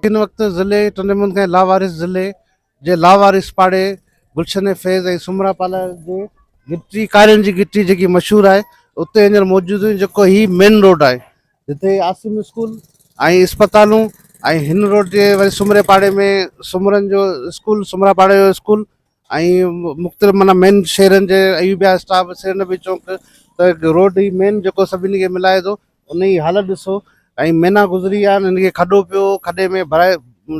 ان وقت ضلعي ٽنڊي محمد کان لاوارث ضلعي جي لاوارث پاڙي گلشن فيض ۽ سومرا پالا جي گٽي ڪارين جي گٽي جيڪي مشهور آهي اتي هينئر موجود آهيون جيڪو هي مين روڊ آهي جتي عاصم اسڪول ۽ اسپتالون ۽ هن روڊ جي وري سومري پاڙي ۾ سومرن جو اسڪول سومرا پاڙي جو اسڪول ۽ مختلف معنيٰ مين شهرن جي ايوبيا اسٽاپ سري نبي چونڪ ته روڊ هي مين جيڪو سڀني کي ملائي ٿو انهي جي حالت ڏسو ۽ مهينا گذري ويا آهن هن کي کڏو پيو کڏي ۾ ڀرائي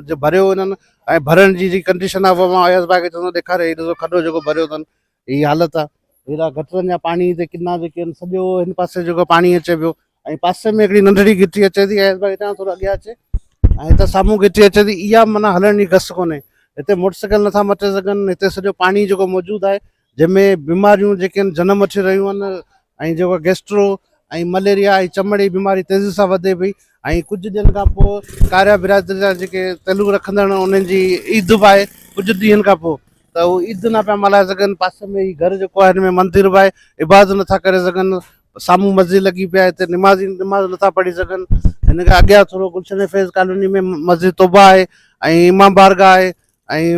جو ڀريو هنن ۽ ڀرڻ جي جي ڪنڊيشن آهي اهو مان اياز ڀاء کي چوندو ڏيکاري هي ڏسو کڏو جيڪو ڀريو اٿن هي حالت آهي هيڏا گٽرن جا پاڻي هتي ڪنا جيڪي آهن سڄو هن پاسي جيڪو پاڻي اچي پيو ۽ پاسي ۾ هڪڙي ننڍڙي گهٽي اچي ٿي اياز باغ هتان ٿورو اڳيان اچي ۽ هتان سامهون گهٽي اچي ٿي اها معنيٰ هلڻ جي گس ڪونهي هتي موٽر سائيڪل نٿا مٽي سگهن هتي سڄو پاڻي جيڪو موجود آهي جنهن ۾ بيماريون جيڪي آهن جنم وٺي رهيون آهن ۽ جيڪو گيسٽرو ۽ مليريا ۽ چمڙي جي بيماري تيزي سان وڌي پئي ۽ ڪجهه ڏينهن کان پوء ڪاريا برادري جا جيڪي تعلق رکندڙ انهن جي عيد به آهي ڪجهه ڏينهن کان پوء ته اهو عيد نه پيا ملهائي سگهن پاسي ۾ هي گهر جيڪو آهي هن ۾ مندر به آهي عبادت نٿا ڪري سگهن سامهون مسجد لڳي پئي آهي هتي نمازي نماز نٿا پڙهي سگهن هن کان اڳيان ٿورو گلشن فيض ڪالوني ۾ مسجد توبه آهي ۽ امام بارگاهه آهي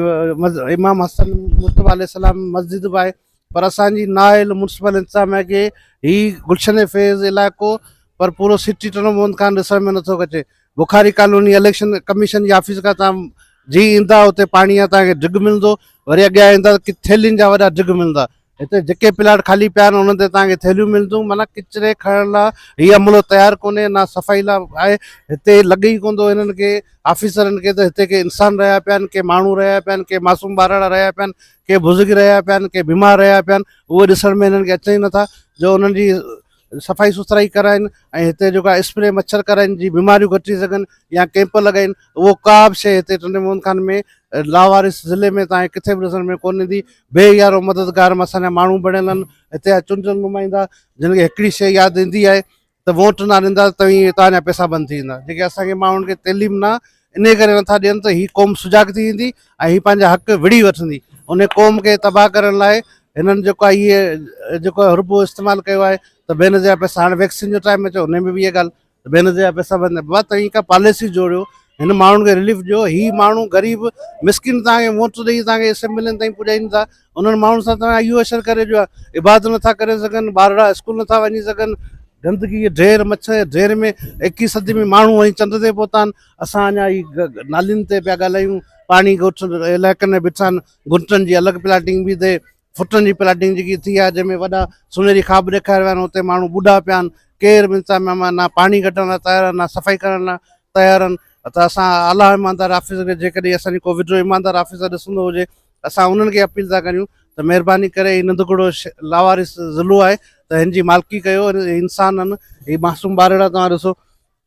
۽ امام حسن مصطفيٰ عليه السلام مسجد به آهي پر اسانجي نااهل مونسپل انتظام آهي ڪي هي گلشن فيض علائقو پر پورو سٽي ٽنو مون کان ڏسڻ ۾ نٿو اچي بخاري ڪالوني اليڪشن ڪميشن جي آفيس کان تان جي ايندا اتي پاڻي جا تان کي ڊگ ملندو وري اڳيان ايندا ته ٿيلين جا وڏا ڊگ ملندا هتي جيڪي پلاٽ خالي پيا آهن انهن تي توهان کي ٿيلهيون ملنديون معنيٰ ڪچري کڻڻ لاء هي عملو تيار ڪونهي نه صفائي لاء آهي هتي لڳي ئي ڪوندو هنن کي آفيسرن کي ته هتي ڪي انسان رهيا پيا آهن ڪي ماڻهو رهيا پيا آهن ڪي معصوم ٻارڙا رهيا پيا آهن ڪي بزرگ رهيا پيا آهن ڪي بيمار رهيا پيا آهن اهو ڏسڻ ۾ هنن کي اچن ئي نٿا جو انهن جي صفائي سٿرائي ڪرائين ۽ هتي جيڪو آهي اسپري مڇر ڪرائين جي بيماريون گهٽجي سگهن يا ڪيمپ لڳائين اهو ڪا به شيء هتي ٽنڊي محمد خان ۾ لاوارث ضلعي ۾ تانئين ڪٿي به ڏسڻ ۾ ڪونه ايندي بي يارو مددگار مان اسان جا ماڻهو بڻيل آهن هتي جا چونڊيل نمائندا جن کي هڪڙي شيء ياد ايندي آهي ته ووٽ نه ڏيندا توهين تانجا پيسا بند ٿي ويندا جيڪي اسان کي ماڻهن کي تعليم نه انهيء ڪري نٿا ڏين ته هي قوم سجاڳ ٿي ويندي ۽ هي پنهنجا حق وڙهي وٺندي. انهيء قوم کي تباهه ڪرڻ لاء هنن جيڪو آهي اهي جيڪو آهي ربو استعمال ڪيو آهي ته بي نظير پئسا هاڻي ويڪسين جو ٽائيم اچيو انهيء ۾ به اهي ڳالهه ته بي نظير پئسا بند بابا توهين ڪا پاليسي جوڙيو هن ماڻهن کي رليف ڏيو هي ماڻهو غريب مسڪين توهان کي ووٽ ڏئي توهان کي اسيمبلين تائين پڄائين ٿا انهن ماڻهن سان توهان اهو اشر ڪريو جو عبادت نٿا ڪري سگهن ٻارڙا اسڪول نٿا وڃي سگهن گندگي جي ڍير مڇر جي ڍير ۾ ايڪيهين صدي ۾ ماڻهو ۽ چنڊ تي پهتا آهن اسان اڃا هي نالين تي پيا ڳالهايون پاڻي ڳوٺن علائقن ۾ بيٺا آهن گهٽن جي الڳ پلاٽنگ بي اٿي فٽن جي پلاٽنگ جيڪي ٿي آهي جنهن ۾ وڏا سونهري خواب ڏيکاري ويا آهن اتي ماڻهو ٻوڏا پيا آهن ڪير به انتظام مهمان نه پاڻي ڪڍڻ لاء تيار آهن نه صفائي ڪرڻ لاء تيار آهن ته اسان اعليٰ ايماندار آفيسر کي جيڪڏهن اسانجي ڪو وڏو ايماندار آفيسر ڏسندو هجي اسان انهن کي اپيل ٿا ڪريون ته مهرباني ڪري هي ننڌڪڙو لاوارث ضلعو آهي ته هن جي مالڪي ڪيو انسان آهن هي معصوم ٻارڙا توهان ڏسو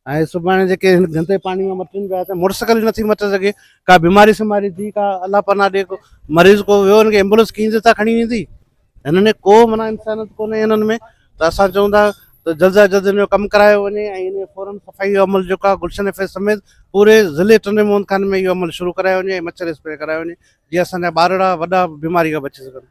۽ سڀاڻي جيڪي هن گندي پاڻي ۾ مٽن پيا ته موٽر سائيڪل نٿي مٽي سگهي ڪا بيماري سيماري ٿي ڪا الله پناهه ڏي ڪو مريض ڪو ويو هن کي ايمبولينس ڪيئن تي ٿا کڻي ويندي هنن ۾ ڪو معنيٰ انسانيت ڪونهي هنن ۾ ته اسان چئون ٿا ته جلد جا جلد هن جو ڪم ڪرايو وڃي ۽ هن جو فورن صفائي جو عمل جيڪو آهي گلشن ايف اي سميت پوري ضلعي ٽنڊي موهن خان ۾ اهو عمل شروع ڪرايو وڃي ۽ مڇر اسپري ڪرايو وڃي جيئن اسان جا ٻارڙا وڏا بيماري کان بچي سگهن.